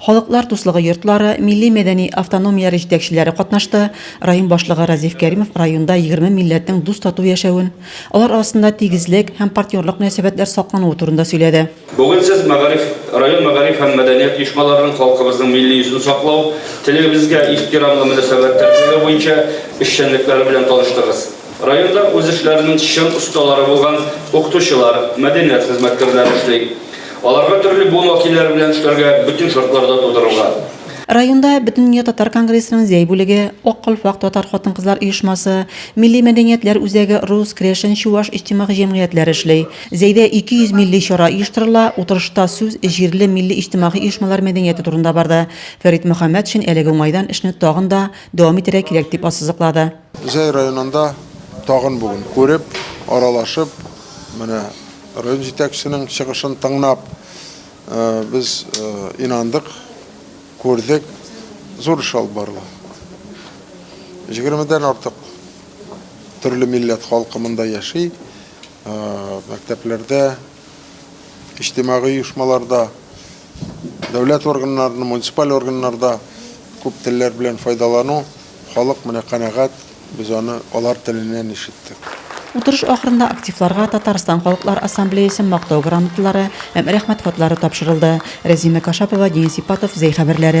Халыклар дуслыгы йортлары, милли-мәдәни автономияләре җитәкчеләре катнашты, район башлыгы Разиф Кәримов районда егерме милләтнең дус-тату яшәвен, алар арасында тигезлек һәм партнерлык мөнәсәбәтләр саклануы турында сөйләде. Бүген сез мәгариф, район мәгариф һәм мәдәният оешмаларының халкыбызның милли йөзен саклау, телебезгә ихтирамлы мөнәсәбәт тәрбияләү буенча эшчәнлекләре белән таныштыгыз. Районда үз эшләренең чын осталары булган укытучылар, мәдәният хезмәткәрләре эшли. Аларга төрле буын вәкилләре белән эшләргә бөтен шартлар да тудырылган. Районда Бөтендөнья татар конгрессының Зәй бүлеге, Ак калфак татар хатын-кызлар оешмасы, Милли мәдәниятләр үзәге, рус, крәшен, чуваш иҗтимагый җәмгыятьләре эшли. Зәйдә 200 милли чара оештырыла, утырышта сүз җирле милли иҗтимагый оешмалар мәдәнияте турында барды. Фәрит Мөхәммәтшин әлеге уңайдан эшне тагын да дәвам итәргә кирәк дип ассызыклады. Зәй районында тагын бүген күреп, аралашып, менә район җитәкчесенең чыгышын тыңнап, без инандык, күрдек, зур эш алып барыла. Җигермедән артык төрле милләт халкы монда яши. Мәктәпләрдә, иҗтимагый оешмаларда, дәүләт органнарында, муниципаль органнарда күп телләр белән файдалану Халык менә канәгать, без аны алар теленнән ишеттек. Утырыш ахырында активларга Татарстан Халыклар Ассамблеясе Мактау грамоталары һәм Рәхмәт хатлары тапшырылды. Рәзимә Кашапова, Денис Ипатов, Зәй хәбәрләре,